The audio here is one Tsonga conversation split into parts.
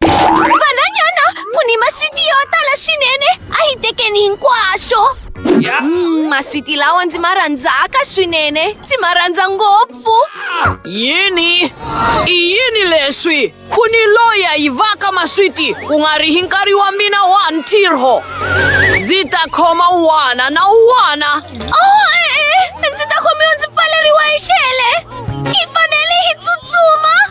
Vananyana! Puni maswiti yo tala swinene! A hi tekeni hinkwaswo! Mm, maswiti lawa ndzi ma rhandzaka swinene! Ndzi ma rhandza ngopfu! Yini? I yini leswi? Ku ni loyi a yivaka maswiti ku nga ri hi nkarhi wa mina wa ntirho! Ndzi ta khoma un'wana na un'wana! Oh, e-e! Ndzi ta khomiwa ndzi pfaleriwa hi xele! Hi fanele hi tsutsuma!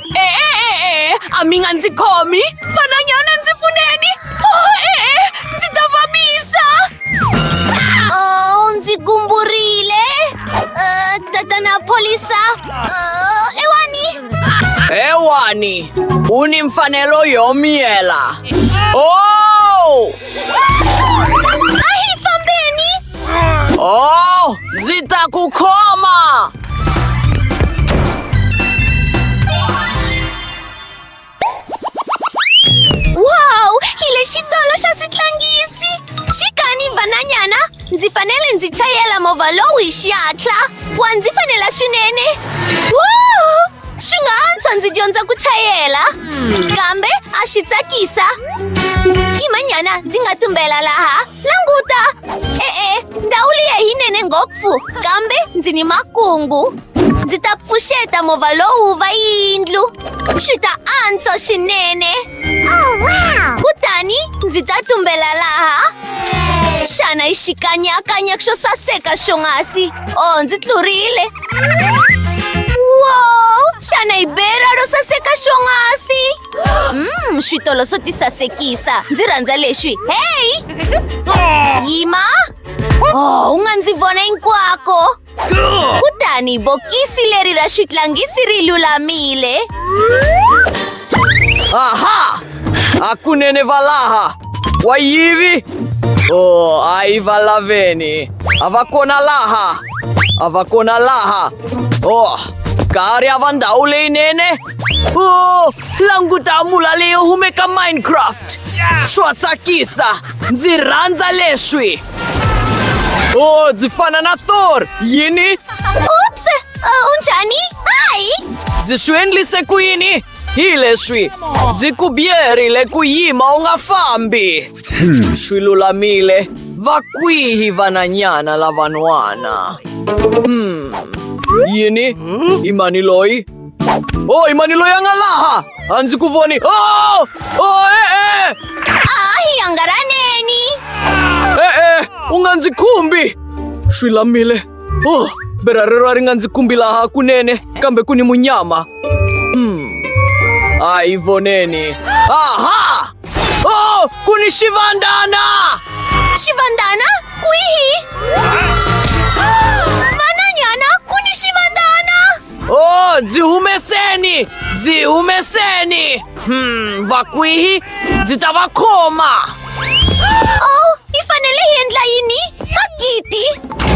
e-e-e a mi nga ndzi khomi vananyana ndzi pfuneni e-e ndzi ta vavisa Oh, ndzi gumburile. Uh, tatana polisa. Uh, ewani. ewani u ni mfanelo yo miyela o Ahi fambeni. Oh, zitakukoma! Wow, ile shidolo sha sitlangisi. Shikani vananyana, ndzi fanele ndzi chayela movha lowu hi xihatla. Wa ndzi fanela swinene. Wow! Swi nga antswa ndzi dyondza ku chayela. Kambe a swi tsakisa. Imanyana ndzi nga tumbela laha. Languta! E-e, ndhawu liya yinene ngopfu, kambe ndzi ni makungu. Ndzi ta pfuxeta movha lowu va yindlu. Swi ta antswa swinene. Oh, Kutani ndzi ta tumbela laha. Xana yi xikanyakanya xo saseka xonghasi. O, oh, ndzi tlurile. Wow! Xana yi bera ro saseka xonghasi? Mm, switolo swo tisasekisa ndzi rhandza leswi heyi yima oh u nga ndzi vona hinkwako kutani bokisi leri ra switlangisi ri lulamile aha hakunene valaha wayivi o oh, ayi va laveni a va kona laha a va kona laha o oh, kari a va ndhawu leyinene Oh, languta mulaleo humeka Minecraft. Swa tsakisa. Ndzi rhandza leswi. Oh, ndzi fana na Thor. Yini? Oops! Uh, unjani? Hi! Ndzi swi endlise ku yini? Hi leswi. Ndzi ku byerile ku yima u nga fambi. Swi lulamile. Va kwihi vananyana lavan'wana? Hmm. Yini? I mani loyi? Oh, i manilo ya nga laha a ndzi ku voni oh! Oh, e-e! Ahi hangaraneni! E-e, u nga ndzi khumbi! Swi lamile. Oh, berha rero a ri nga ndzi kumbi laha kunene, kambe ku ni munyama. Hmm. A hi voneni. Aha! Oh, ku ni xivandana! Xivandana? Kwihi? O, dzihumeseni! Dzihumeseni! Hmm, vakwihi ndzi ta va khoma! Oh, hi fanele hi endla yini? Magidi!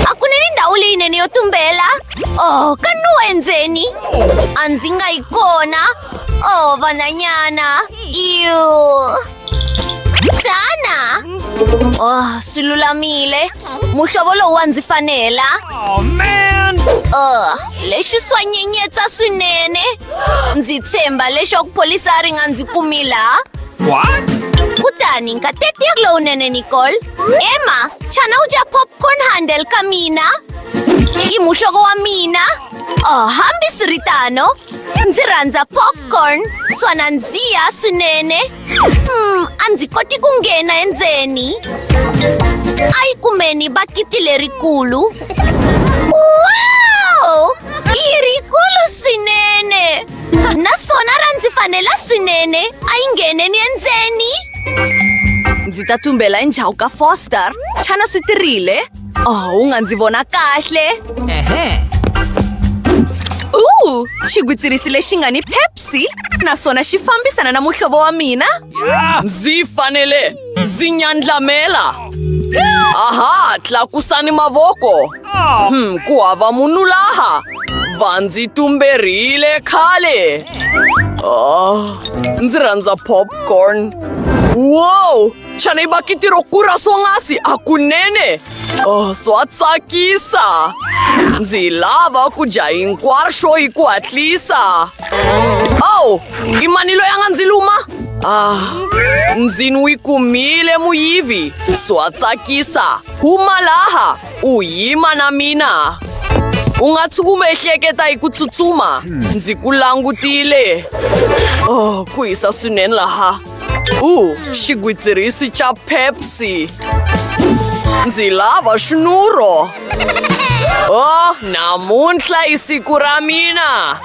A ku ni ni ndhawu leyinene yo tumbela! Oh, ka nuwa endzeni! A ndzi nga yi kona! Oh, vananyana! Iu! Tana! Oh, swi lulamile. Muhlovo lowu wa ndzi fanela. Oh, man! Oh, leswi swa nyenyetsa swinene. Ndzi tshemba leswaku pholisa ri nga ndzi kumi laha. What? Kutani nkateko ya lowunene Nicole. Emma, xana u dya popcorn handle ka mina? I muhlovo wa mina. Oh, hambi swi ri tano ndzi rhandza popcorn swa nandziha swinene mm, a ndzi koti ku nghena endzeni a yi kumeni bakiti lerikulu wow i rikulu swinene naswona ra ndzi fanela swinene a yi ngheneni endzeni ndzi ta tumbela endzhaku ka foster xana swi tirile oh u nga ndzi vona kahle u xigwitsirisi lexi nga ni pepsi naswona xi fambisana na muhlovo wa mina ndzi fanele ndzi nyandlamela aha tlakusani mavoko hmm, ku hava munhu laha va ndzi tumberile khale oh, ndzi rhandza popcorn wow Xana yi va kitiro ku ra swonghasi a kunene oh, swa tsakisa ndzi lava ku dya hinkwaswo hi ku hatlisa ow i mani loyi a nga ndzi luma ah ndzi n'wi kumile muyivi swa tsakisa huma laha u yima na mina u nga tshuki u ehleketa hi ku tsutsuma ndzi ku langutile oh ku hisa swinene laha U, xigwitsirisi xa Pepsi. Ndzi lava xinuro. Oh, namuntlha i siku ra mina.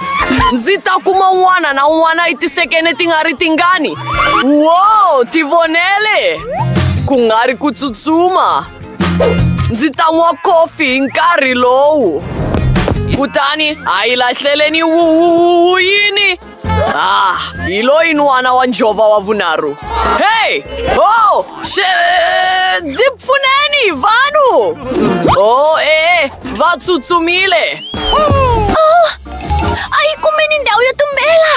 Ndzi ta kuma un'wana na un'wana i tisekene ti nga ri tingani. Wow, ti vonele. Ku nga ri ku tsutsuma. Ndzi ta nwa kofi hi nkarhi lowu. Kutani a yi lahleleni yini? Ah, ilo inuwana wa njhova wa vunharhu hey oh she, ndzi pfuneni vanhu oh e va tsutsumile oh, a yi kumeni ndhawu yo tumbela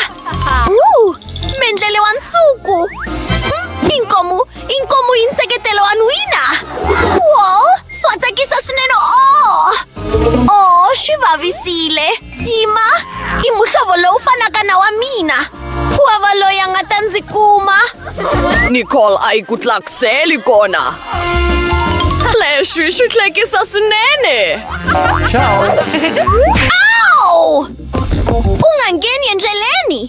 uh, mendlele wa nsuku hmm, inkomu inkomu yi nseketelo wa nwina wo swa tsakisa swinene o oh. o oh, swi vavisile tima i muhlovo lowu fanaka na wa mina ku va va loyi a nga ta ndzi kuma nicole a yi ku tlakuseli kona leswi swi hlekisa swinene awu u nga ngheni endleleni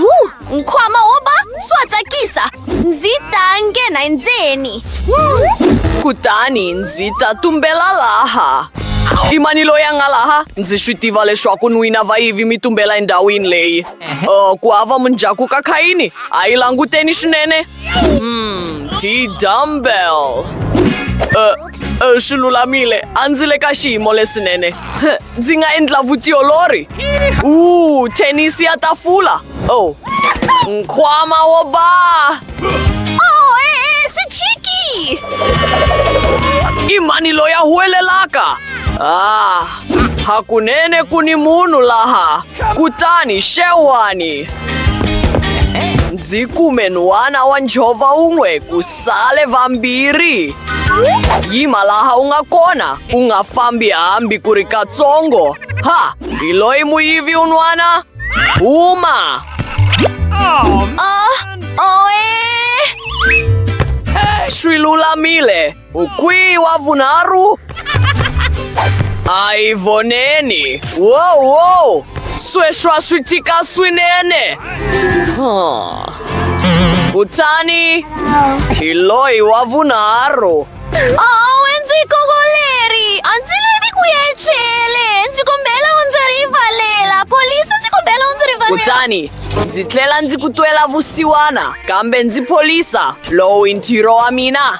Wu, Nkwama wo ba swa tsakisa. Ndzi ta nghena endzeni. Kutani ndzi ta tumbela laha. I mani loyi a nga laha? Ndzi swi tiva leswaku n'wina vayivi mi tumbela endhawini leyi. Uh, ku hava munjaku ka Khayini, a yi languteni swinene. Hmm, tii dumbbell. Uh, uh, swi lulamile a ndzi le ka xiyimo lesinene Huh, ndzi nga endla vutiolori u thenisi ya tafula oh nkwama wo ba Oh, eh, si chiki! i mani loyi a huwelelaka ah Hakunene ku ni munhu laha, kutani xewani. Ndzi kume nhwana wa njhova un'we ku sale vambirhi. Yima laha u nga kona, u nga fambi hambi ku ri katsongo. Ha, hi loyi muyivi un'wana? Huma! Oh, oe! Swi lulamile. Ukwi wa vunharhu. A hi voneni. Wow, wow. Sweswa swi tika swinene. Huh. Kutani hi loyi wa vunharhu. Oh, ndzi kokoleri. A ndzi lavi ku ya chele. Ndzi kombela u ndzi rivalela. Polisi ndzi kombela u ndzi rivalela. Kutani ndzi tlela ndzi ku twela vusiwana kambe ndzi polisa lowu i ntirho wa mina.